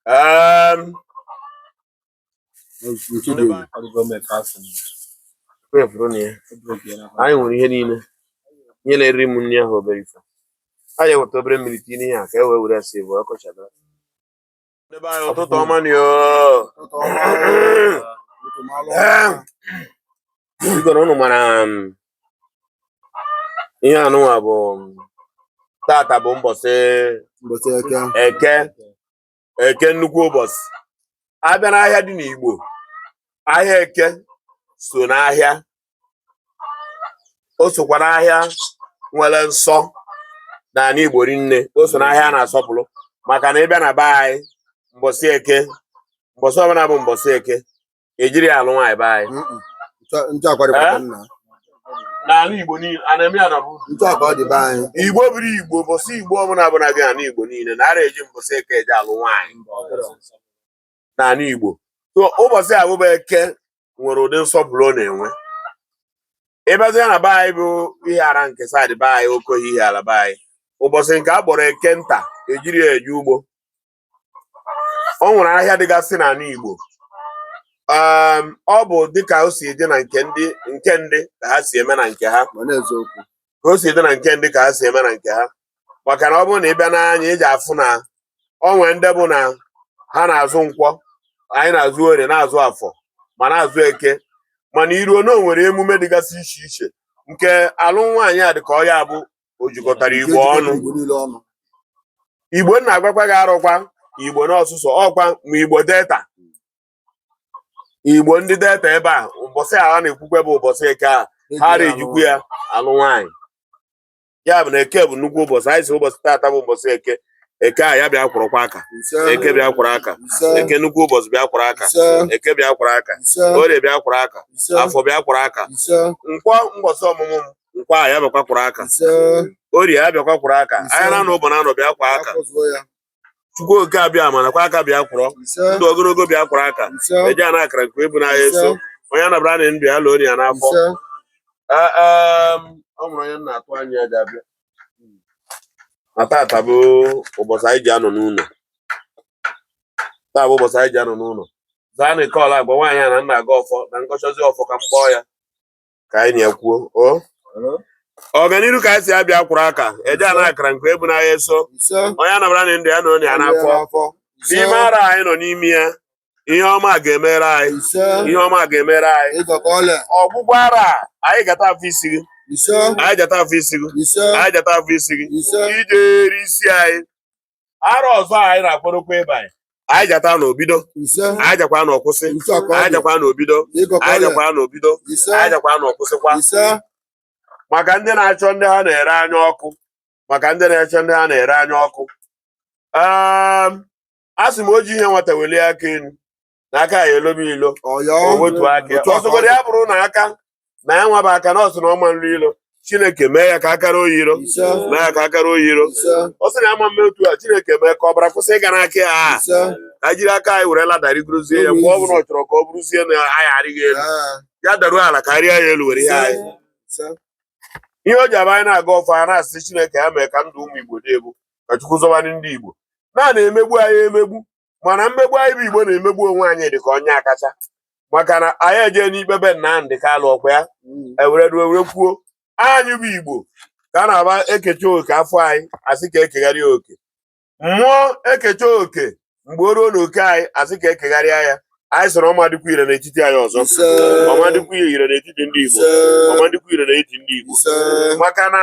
um, anyị were ihe niile ihe na-eri m nri ahụ obere ife anyị eweta obere mmiri tinye ihe a ka e wee were ya si bụ ọkọchị Ibe anyị ụtụtụ ọma nụ o. Igoro unu mara um, ihe anụnwa bụ um, tata bụ mbọsị eke. eke nnukwu ụbọchị a bịa n'ahịa dị n'Igbo ahịa eke so n'ahịa o sokwa n'ahịa nwere nsọ n'ala Igbo rinne o so n'ahịa a na-asọpụrụ maka na ị bịa na be anyị mbọsị eke mbọsị ọbụla bụ mbọsị eke ejiri ya alụ nwaanyị be anyị n'ala Igbo niile a na-eme ya na bụ Igbo bụrụ Igbo mbọsị Igbo ọbụla bụla dị n'ala Igbo niile anara eji mbọsị eke eji alụ nwaanyị n'ala Igbo so ụbọchị a bụba eke nwere ụdị nsọpụrụ ọ na-enwe ị bịazie na be anyị bụ Ihiala nke side be anyị Okohia Ihiala be anyị ụbọchị nke a kpọrọ eke nta ejiri ya eje ugbo o nwere ahịa dịgasị n'ala Igbo um, ọ bụ dịka o si dị o si dị na nke ndị ka ha si eme na nke ha maka na ọ bụrụ na ị bịa n'anyị ị ji afụ na o nwere ndị bụ na ha na-azụ nkwọ anyị na-azụ orie na-azụ afọ ma na-azụ eke mana i ruo na o nwere emume dịgasị iche iche nke alụ nwaanyị a dị ka ọ ya bụ o jikọtara Igbo ọnụ. igbo na-agwakwa gị arụkwa igbo n'ọsụsọ ọkwa ma Igbo Delta Igbo ndị Delta ebe a ụbọchị a ha na-ekwukwe bụ ụbọchị eke a ha ara ejikwu ya alụ nwaanyị ya bụ na eke bụ nnukwu ụbọchị anyị sị ụbọchị taata bụ ụbọchị eke eke a ya bịa kwọrọkwa aka eke bịa kwọrọ aka eke nnukwu ụbọchị bịa kwọrọ aka eke bịa kwọrọ aka orie bịa kwọrọ aka afọ bịa kwọrọ aka nkwọ mbọsị ọmụmụ m nkwọ a ya bịakwa kwọrọ aka orie ya bịakwa kwọrọ aka ahịa na anọ ụbọchị na anọ bịa kwọọ aka Chukwu oke abịama nakwa aka bịa kwọrọ ndụ ogologo bịa kwọrọ aka eji ana akara nke ebu n'ahịa eso onye anabara na ndụ ya lụọ ya n'afọ ọ nwere onye na-atụ anya ya ga-abịa na tata bụ ụbọchị anyị ji anọ n'ụlọ taa bụ ụbọchị anyị ji anọ n'ụlọ zaa na ike ọla agwa nwaanyị a na nna aga ọfọ na nkọchọzi ọfọ ka m kpọọ ya ka anyị na-ekwuo o ọganiru ka anyị si abịa kwụrụ aka eje a na-akara nke ebu n'ahịa eso onye anabara na ndụ ya na onye a n'afọ n'ime arọ anyị nọ n'ime ya ihe ọma ga-emere anyị ihe ọma ga-emere anyị ọgwụgwụ arọ anyị gata afọ isi gị anyị jata afọ isi gị anyị jata afọ isi gị ije eri isi anyị arọ ọzọ anyị na-akpọrọkwa ebe anyị anyị jata na obido anyị jakwa na ọkwụsị anyị jakwa na obido anyị jakwa na obido anyị jakwa na ọkwụsịkwa maka ndị na-achọ ndị ha na-ere anya ọkụ maka ndị na-achọ ndị ha na-ere anya ọkụ ehm, a sị m o ji ihe nwata welie aka elu na aka ya elobe ilo o wetuo aka ọsọgodo ya bụrụ na aka na ya nwaba aka na ọ sị na ọ ma nri ilo chineke mee ya ka aka ro ya iro mee ya ka aka ro ya iro ọ sị na ama m eme otu a chineke mee ka ọbara kwụsị ịga n'aka ya a ka jiri aka anyị were ladder rigorozie ya mgbe ọ bụla ọ chọrọ ka ọ bụrụzie na anyị arịghị elu ya daruo ala ka arịa ya elu were ihe anyị ihe o ji abụ anyị na-agọ ọfọ a na-asị chineke ya mee ka ndụ ụmụ igbo dị ebu ka chukwu zọba anyị ndị igbo na a na-emegbu anyị emegbu mana mmegbu anyị bụ Igbo na-emegbu onwe anyị dị ka ọ ya akacha maka na anyị eje n'ikpe be Nnamdị Kalụ ọ kwa ya mm. ewere ruo were kwuo anyị bụ Igbo ka a na-abụ e kechaa oke afọ anyị a sị ka e kegharịa oke mmụọ e kechaa oke mgbe o ruo na oke anyị a sị ka e kegharịa ya anyị sịrị ọ ma dịkwa ire n'etiti anyị ọzọ ọ ma dịkwa ire n'etiti ndị Igbo ọ ma dịkwa ire n'etiti ndị Igbo maka na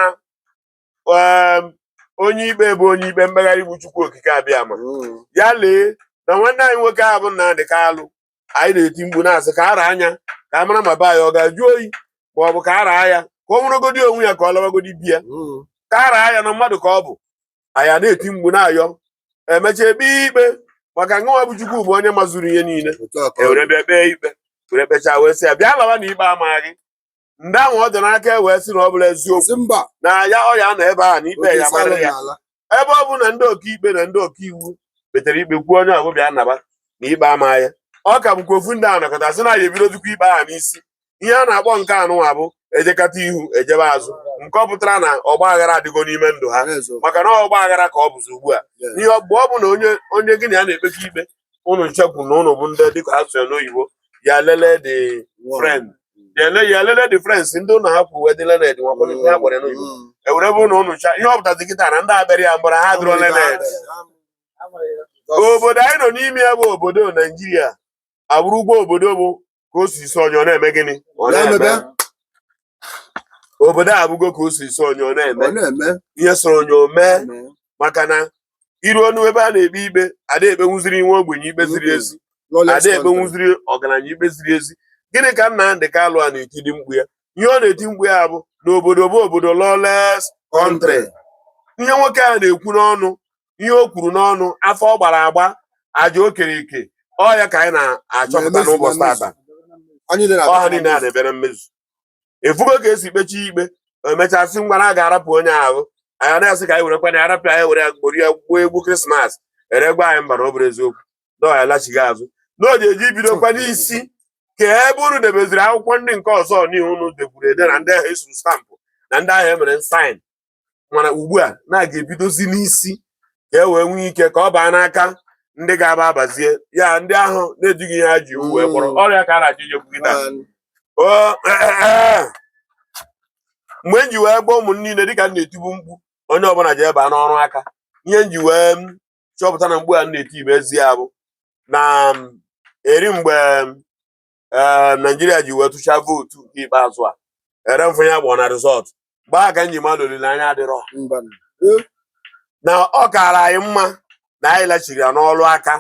um, onye ikpe bụ onye ikpe mkpegharị bụ Chukwu Okike Abịama mm. ya lee na nwanne anyị nwoke ahụ bụ Nnamdị Kalụ anyị na-eti mkpu na-asị ka a raa ya ka a mara ma be anyị ọ ga-ajụ oyi ma ọ bụ ka a raa ya ka o nwerụgodi onwe ya ka ọ lawagodi be ya mm. ka a raa ya na mmadụ ka ọ bụ anyị na-eti mkpu na-ayọ emechaa e kpee ikpe maka na ọ bụ Chukwu bụ onye mazuru ihe niile e were bịa kpee ikpe were kpechaa wee sị ya bịa lawa na ikpe amaghị ndị ahụ ọ dị n'aka e wee sị na ọ bụrọ eziokwu mba na ya ọ ya nọ ebe ahụ na ikpe ya mara ya ebe ọ bụ na ndị ọkaikpe na ndị ọkaiwu kpetere ikpe kwuo onye ọ bụ bịa naba na ikpe amaghị ya ọ ka bụkwa ofu ndị ahụ nọkọta sị na ya ebidozikwa ikpe ahụ n'isi ihe a na-akpọ nke anụnwa bụ ejekata ihu ejebe azụ nke ọ pụtara na ọgba aghara adịgo n'ime ndụ ha maka na ọgba aghara ka ọ bụzi ugbu a ihe mgbe ọ bụ na onye onye gị na ya na-ekpekọ ikpe unu ncha kwu na unu bụ ndị dịka a sụọ ya n'oyibo your learned friend your le- your learned friends ndị unu ha kwuru wee dị learned nwakwa ndị ha gwara ya n'oyibo ewere bụ na unu cha ihe ọ pụtazi kịta na ndị abịara ya mgbara ha dịrị learned obodo anyị nọ n'ime ya bụ obodo naijiria abụrụgo obodo bụ ka o si sọ onye ọ na-eme gịnị ọ na-eme Na-emebe. obodo a abụgo ka o si sọ onye ọ na-eme Ọ na-eme. ihe sọrọ onye o mee maka na i ruonụ ebe a na-ekpe ikpe ada ekpenwuziri nwa ogbenye ikpe ziri ezi Lawless ada country. ekpenwuziri ọgaranya ikpe ziri ezi gịnị ka Nnamdị Kalụ a na-etidị mkpu ya ihe ọ na-eti mkpu ya bụ na obodo bụ obodo lawless country ihe nwoke a na-ekwu n'ọnụ ihe o kwuru n'ọnụ afọ ọ gbara agba aja o kere ike ọ ya ka anyị na-achọpụta Na-emezu, n'ụbọchị na-emezu. tata Anyị niile na-abịa ọha niile na a mmezu. na-ebe na mmezu ị fụgo ka e si kpechie ikpe emechaa sị ngwa na a ga-arapụ onye ahụ anyị na-asị ka anyị were kwana arapụ anyị were ya gbori ya gwuo egwu krismas e re gwa anyị mba na ọ bụrụ eziokwu na ọ ya-alachigha azụ na o ji eji bidokwa n'isi ka ebe unu debeziri akwụkwọ ndị nke ọzọ n'ihu unu deburu ede na ndị ahụ e suru stampụ na ndị ahụ e mere saịn mana ugbu a na a ga-ebidozi n'isi ka e wee nwee ike ka ọ baa n'aka ndị ga-aba abazie ya ndị ahụ na-ejighị ihe ha ji iwu wee kpọrọ Mm. ọrịa ka a na-achọ ijekwu gị taa Man, O, eh, eh, eh. mgbe m ji wee gwa ụmụ m niile dịka m na-etibu mkpu onye ọbụla jee baa n'ọrụ aka ihe m ji wee m chọpụta na mkpu a m na-eti bụ ezi ya bụ na m, eri mgbe m, ee naijiria ji wee tụchaa vootu nke ikpeazụ a eri m fụ ya gbọ na rizọt mgbe a ka m ji ma na olileanya adịrọ na ọ kaara anyị mma na anyị lachigara n'ọrụ aka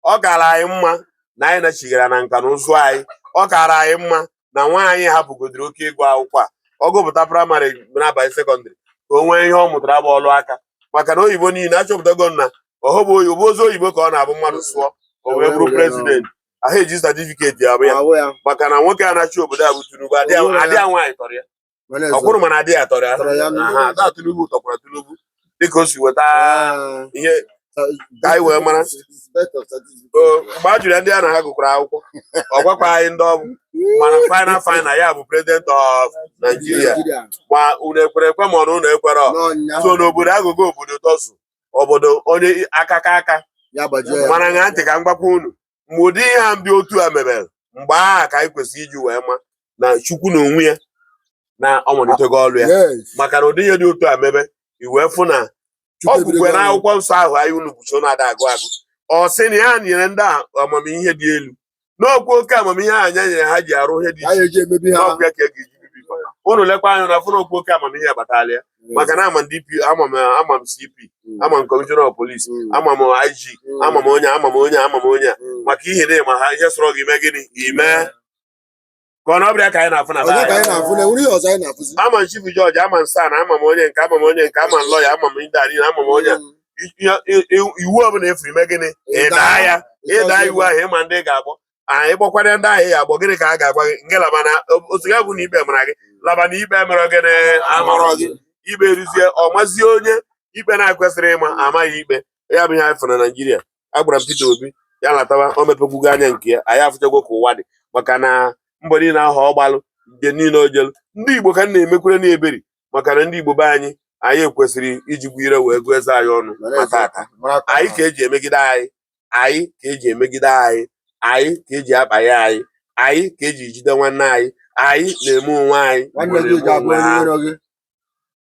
ọ kaara anyị mma na anyị lachigara na nka na ụzụ anyị ọ kaara anyị mma na nwa anyị hapụgodiri oke ịgụ akwụkwọ a ọ gụpụta praịmarị na-aba sekọndịrị ka o nwee ihe ọ mụtara bụ ọrụ aka maka na oyibo niile achọpụtago na ọhụbụ oyibo ozi oyibo ka ọ na-abụ mmadụ sụọ o wee bụrụ prezidenti aha eji satifiketi abụ ya abụ ya maka na nwoke a na-achị obodo a bụ Tinubu ada Tinubu ya. ada ya nwaanyị tọrọ ya mana ọ kwụrụ mana ada ya tọrọ ya Tọrọ ya. Aha, taa Tinubu tọkwara Tinubu dịka o si weta Ah, ihe ka anyị wee mara. Inspector of Statistics. o, mgbe a jụrụ ya ndị ya na ha gụkọrọ akwụkwọ ọ gwakwa anyị ndị ọ bụ mana final final ya bụ president of Nigeria Nigeria. ma unu ekwere ekwe ma ọ na unu ekwerọ N'ọnya. so n'obodo aghụghọ obodo tọzụ obodo onye aka ka aka mana ṅaa ntị ka m gwakwa unu mgbe ụdị ihe a ndị otu a mebere mgbe ahụ ka anyị kwesịrị iji wee ma na Chukwu n'onwe ya na ọ malitego ọrụ ya maka na ụdị ihe dị otu a mebe i wee fụ na o kwukwara n'akwụkwọ nsọ ahụ anyị unu bụso na-ada agụ agụ ọ sị na ya nyere ndị a amamihe dị elu na ọ kwa oke amamihe ahụ ya nyere ha ji arụ ihe dị iche iche na ọ kwa ya ka a ga-eji bibie ụnụ lekwa anya na-afụ na ọ kwa oke amamihe ya batala ya mm. maka na ama m dp ama m ama m cp mm. ama m kọmishọna of polisi mm. ama m ig ama m onye ama m onye ama m onye maka ihi na ị ma ha ihe sọrọ gị i mee gịnị i mee ka ọ na ọbịa ka anyị na-afụ na Onye ka anyị na-afụ na enwere ihe ọzọ anyị na-afụzi ama m chief judge ama m SAN ama m onye nke ama m onye nke ama m lọya ama m ndị arịna ama m onye a. I- i- i- i- iwu ọbụla efiri i mee gịnị ị daa ya ị daa iwu ahụ ị ma ndị ị ga-akpọ anyị kpọkwara ndị ahụ ya agbọ gịnị ka a ga-agwa gị nke laba na otu ya bụ na ikpe mara gị laba na ikpe mere gịnị amarọ gị ikpe ruzie ọ mazie onye ikpe na-ekwesịrị ịma amaghị ikpe ya bụ ihe anyị fụrụ na naijiria agwara m Peter Obi ya latawa o mepegwugo anya nke ya anyị afụchago ka ụwa dị maka na mbọ niile ahụ ọ gbalụ ije niile o jelu ndị Igbo ka m na-emekwere na eberi maka na ndị Igbo be anyị anyị kwesịrị ijikwa ire wee gụọ eze anyị ọnụ ma tata anyị ka eji emegide anyị anyị ka eji emegide anyị anyị ka eji akpaghe anyị anyị ka eji jide nwanne anyị anyị na-eme onwe anyị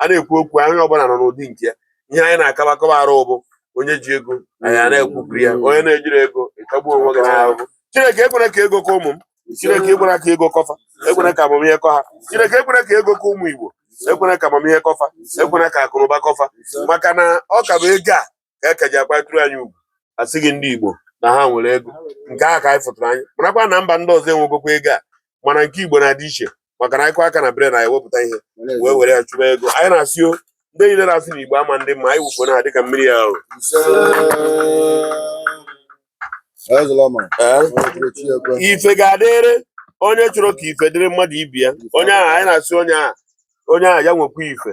a na-ekwu okwu onye ọbụla nọ n'ụdị nke ya ihe anyị na-akaba akaba arụ bụ onye ji ego anyị ana-ekwupụrụ ya onye na-ejirọ ego ị tagbuo onwe gị n'ahụhụ chineke ekwela ka ego kọ ụmụ m chineke ekwela ka ego kọ fa ekwela ka amamihe kọ ha chineke ekwela ka ego kọ ụmụ Igbo ekwela ka amamihe kọ fa ekwela ka akụnụba kọ fa maka na ọ ka bụ ego a ka a ka ji akwatụrụ anyị ugwu a sị gị ndị Igbo na ha nwere ego nke a ka anyị fụtụrụ anyị marakwa na mba ndị ọzọ enwegokwa ego a mana nke Igbo na-adị iche maka na anyị kụ aka na brain anyị wepụta ihe wee were ya chụba ego anyị na-asị o ndị niile na-asị na Igbo ama-adị mma anyị wụfuo ha dịka mmiri ya bụ ife ga-adịrị onye chọrọ ka ife dịrị mmadụ ibe ya onye ahụ anyị na-asị onye ahụ onye ahụ ya nwekwa ife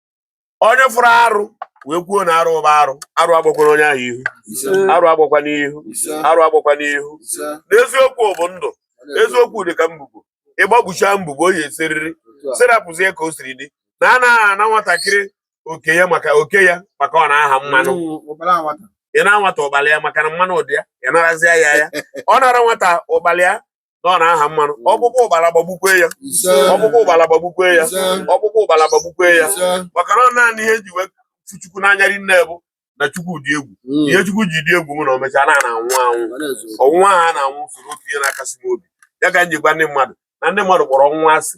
onye fụrụ arụ wee kwuo na arụ bụ arụ arụ agbakwana onye ahụ ihu arụ agbakwa n'ihu arụ agbakwa n'ihu na eziokwu bụ ndụ eziokwu dị ka mbubo ị gbagbuchaa mbubo oyi esiriri sirapụzie ka o siri dị na anaghị ana nwatakịrị oke ya maka oke ya maka ọ na-aha mmanụ mm, ị naa nwata ụgbala ya maka na mmanụ dị ya ị narazie ya ya ọ nara nwata ụgbala ya na ọ na-aha mmanụ ọkpụkpụ ụgbala gbagbukwe ya ọkpụkpụ ụgbala gbagbukwe ya ọkpụkpụ ụgbala gbagbukwe ya maka na ọ naanị ihe m ji wee hụ chukwu n'anya rinne bụ na chukwu dị egwu hmm. ihe chukwu ji dị egwu bụ na o mechaa a na-anwụ anwụ ọnwụ nwa a na-anwụ soro otu ihe na-akasi m obi ya ka m ji gwa ndị mmadụ na ndị mmadụ kpọrọ ọnwụ nwa asị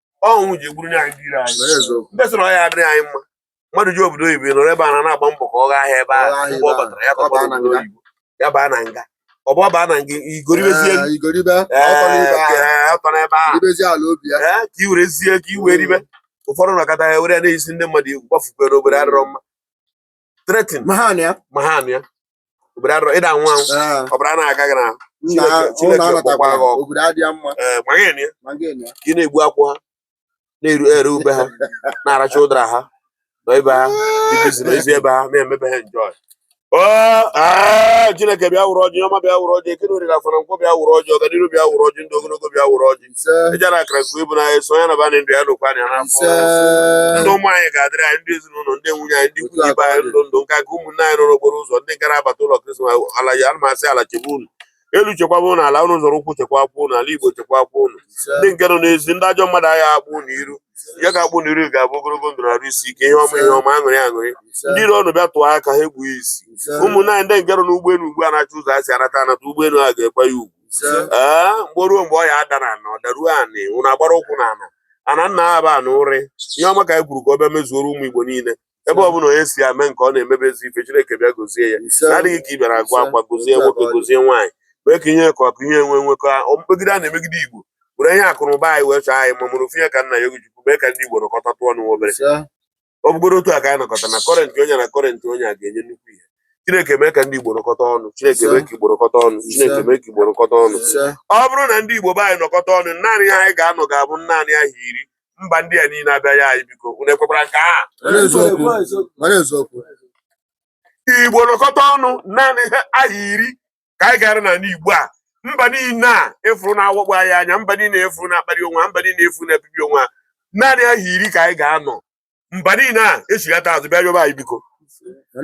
ọnwụ ji egburu anyị ndị iro anyị ndị sịrị ọ ya adịrị anyị mma mmadụ jee obodo oyibo nọrọ ebe a na-agba mbọ ka ọ gaa ahịa ebe ahụ mgbe ọ batara ya tọba obodo oyibo ya baa na nga ọ bụ ọ baa na nga igoribezie ọtọ n'ebe ahụ ka i werezie ka i wee ribe ụfọdụ nọkọta ya were na-eyisi ndị mmadụ egwu gbafukwe na obodo adịrọ mma threaten ma ha na ya ma ha na ya obodo adịrọ ịda nwa anwụ Ee, ọbara na-aga gị n'ahụ nna Chineke- ahụ Chineke na-anata kpọkwa gị ọkụ. obodo adịghị mma ee ma gị na ya ma gị na ya ka ị na-egbu akwụ ha na-eru ere ube ha na-aracha ụdara ha nọ be ha dị bizi n'ezi be ha na-eme be ha njọ chineke bịa were ọjị ọma bịa were ọjị eke na orie afọ na nkwọ bịa were ọjị ọganiru bịa were ọjị ndụ ogologo bịa were ọjị eji na akara gbuo ibu n'anya so onye na bana ndụ ya n'okwu anya n'afọ ndụ ụmụ anyị ga-adịrị anyị ndị ezinụlọ ndị nwunye anyị ndị ikwu na ibe anyị ndụ ndụ nka nke ụmụnne anyị nọ n'okporo ụzọ ndị ga na-abata ụlọ krismas ala ya ana m asị ala chebe unu elu chekwaba ụnụ ala ụnụ zọrọ ụkwụ chekwakwa ụnụ ala igbo chekwakwa ụnụ ndị nke nọ n'ezi ndị ajọ mmadụ agaghị akpọ ụnụ iru ihe ga-akpọ ụnụ iru ga-abụ ogologo ndụ na arụ isi ike ihe ọma ihe ọma aṅụrị aṅụrị ndị iro ụnụ bịa tụọ aka ha egbughị isi ụmụnne anyị ndị nke nọ n'ụgbọelu ugbu a na-achọ ụzọ ha si anata anata ụgbọelu a ga-ekwe ya ugwu mgbe o ruo mgbe ọ ya ada n'ana ọ daruo anị ụnụ agbara ụkwụ n'ana ana nna ha ba na ụrị ihe ọma ka anyị kwuru ka ọ bịa mezuoro ụmụ Igbo niile ebe ọbụla onye si ame nke ọ na-emebe ezi ife Chineke bịa gozie ya na-adịghị ka ị bịara agwa akwa gozie nwoke gozie nwaanyị mee ka ihe ka ọkụ ihe enwe nwekọ mmegide a na-emegide Igbo were ihe akụnụba anyị wee chọọ anyị ma mụrụ ofu ihe ka nna ya Ogochukwu mee ka ndị Igbo nọkọtatụ ọnụ obere ọ bụgoro otu a ka anyị nọkọta na kọrentị onye na kọrentị onye a ga-enye nnukwu ihe chineke mee ka ndị igbo nọkọta ọnụ chineke mee ka igbo nọkọta ọnụ chineke mee ka igbo nọkọta ọnụ ọ bụrụ na ndị igbo be anyị nọkọta ọnụ naanị ihe anyị ga-anọ ga-abụ naanị ahọ iri mba ndị a niile abịa yọọ anyị biko unu ekwekwara nke a igbo nọkọta ọnụ naanị ahọ iri ka anyị ga-anọ n'ala Igbo a mba niile a ị fụrụ na-awakpo anyị anya mba niile ị fụrụ na-akparị onwe ha mba niile ị fụrụ na-ebibi onwe ha naanị ahọ iri ka anyị ga-anọ mba niile a echighata azụ bịa yọba anyị biko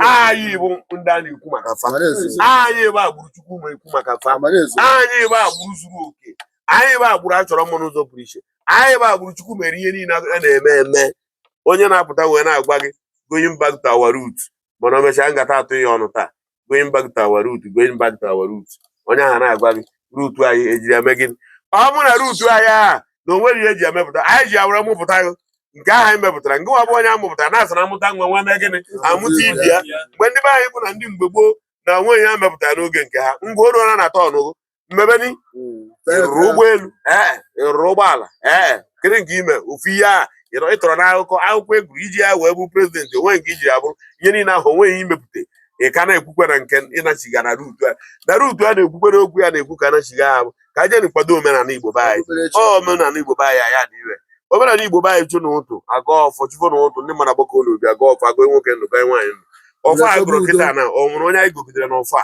anyị bụ ndị a na-ekwu maka fa anyị bụ agbụrụ chukwu na-ekwu maka fa anyị bụ agbụrụ zuru oke anyị bụ agbụrụ a chọrọ mma n'ụzọ pụrụ iche anyị bụ agbụrụ chukwu mere ihe niile a na-eme eme onye na-apụta wee na-agwa gị going back to our root mana o mechaa ngata atụ ya ọnụ taa going back to our root going back to our root onye ahụ na-agwa gị root anyị e jiri ya mee gịnị ọ bụ na root anyị ahụ na o nwere ihe e ji emepụta anyị ji ya were mụpụta gị nke ahụ anyị mepụtara nke nwa bụ onye a mụpụtara na-asị na a mụta nwa nwa mee gịnị amụta ibe ya mgbe ndị be anyị bụ na ndị mgbe gboo na o nwe ihe ha mepụtara n'oge nke ha ngwa o ruola na turn gị mmebeni ị rụrụ ụgbọelu ee ị rụrụ ụgbọala ee kedu nke i me ofu ihe a ị tọrọ n'akụkọ akwụkwọ ị gụrụ i ji ya wee bụ prezidenti o nwe nke i ji ya bụrụ ihe niile ahụ o nweghị i mepụta ị ka na-ekwukwe na nke ịnachigha na root a na root a na-ekwukwere okwu ya na-ekwu ka a nachigha bụ ka a jeni kwado omenala igbo be anyị omenala igbo be anyị aya dị ire omenala igbo be anyị chi n'ụtụtụ agọọ ọfọ chi fo n'ụtụtụ ndị mmadụ agbakọ n'obi agọọ ọfọ agọọ nwoke ndụ gọnye nwaanyị ndụ ọfọ a gọrọ kịta na o nwere onye anyị gọgidere n'ọfọ a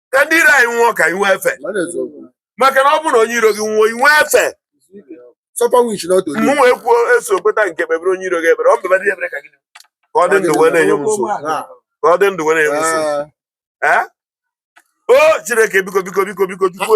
ka ndị iro anyị nwụọ ka anyị nwee efe maka na ọ bụrụ na onye iro gị nwụọ i nwee efe mụ wee kwuo eso kweta nke kpebere onye iro gị ekpere ọ m kpebere ekpere ka gị ka ọ dị ndụ wee na-enye m nsogbu ka ọ dị ndụ wee na-enye m nsogbu ee o chineke biko biko biko biko chukwu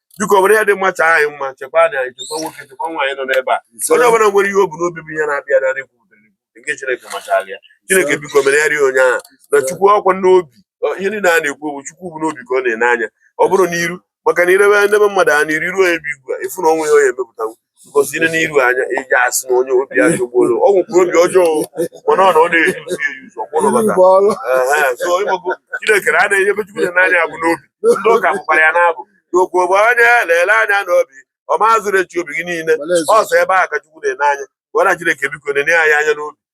biko were ihe dị mma chọọ anyị mma chekwa anyị anyị chekwa nwoke chekwa nwaanyị nọ n'ebe a onye ọbụla nwere ihe o bu n'obi bụ ihe na-abịa na narị kwutere nke Chineke machara ya Chineke biko mere ya rie onye ahụ na Chukwu ọkwa n'obi ihe niile a na-ekwu bụ Chukwu bụ n'obi ka ọ na-ene anya ọ bụrụ n'iru maka na i lebe ndị be mmadụ anya n'iru ebe igwe efu na ọnwa ya onye emepụtanwu gosi n'iru anya eji asị na onye obi ya jọgbulu ọ nwekwa obi ọjọọ mana ọ na ọ na-eyuzu eyuzu ọ kwụlụ bata so ị mago chineke na a na-enye ebe chukwu na-ene anya bụ n'obi ndị ụka bụkwara ya n'abụ chukwu bụ onye lele anya n'obi ọ mazuru uche obi gị niile so ebe a ka chukwu na-ene anya gwara chineke biko na-ene anyị anya n'obi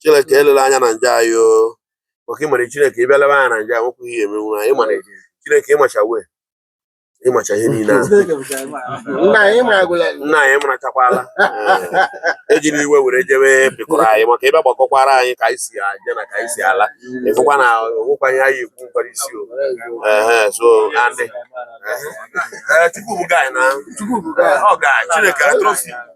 chineke elele anya na njọ anyị o maka ịmara chineke ị bịa lebe anya na njọ anyị nwekwughị ihe emenwu anyị ịmara chineke ị macha wee macha ihe niile ahụ nna anyị maragwụla nna anyị marachakwala Ee, ejiri iwe were jebe pịkọrọ anyị maka ebe gbakọkwara anyị ka anyị si aje na ka anyị si ala ị fụkwa na o nwekwa ihe anyị ekwu nkwara isi o ehe so andị Ee, Chukwu bụ gaị na ọ gaị Chineke atụrụ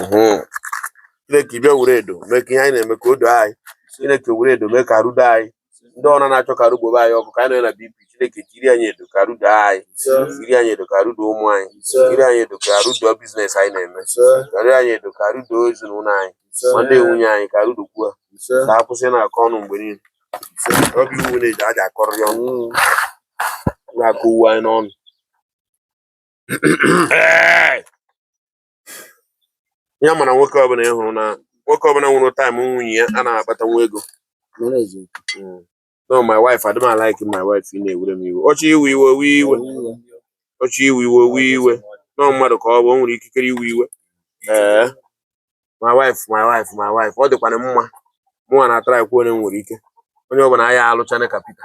mhm. chineke bịa were edo mee ka ihe anyị na-eme ka o doo anyị chineke were edo mee ka arụ doo anyị ndị ọrụ na-achọ ka arụ gbaa anyị ọkụ ka anyị nọ na bp chineke jiri anyị edo ka arụ doo anyị jiri anyị edo ka arụ doo ụmụ anyị jiri anyị edo ka arụ doo biznes anyị na-eme jiri anyị edo ka arụ doo ezinụlọ anyị ma ndị nwunye anyị ka arụ dokwuo ka ha kwụsị na-akọ ọnụ mgbe niile ọ bụ iwu na-eji aja akọrọ ya ọnụ mm. na-akọ uwe anyị n'ọnụ ya mana nwoke ọbụla ị hụrụ na nwoke ọbụla nwụrụ taịm nwunye ya a na-akpata nwa ego no my wife adịm alaiki my wife ị na-ewere m iwe ọ chọọ iwe iwe o wee iwe ọ chọọ iwe iwe o wee iwe na ọ mmadụ ka ọ bụ o nwere ikikere iwe iwe ee my wife my wife my wife ọ dịkwana mma mụnwa na-atara ekwu onye m nwere ike onye ọbụla anyị alụchana ka Pita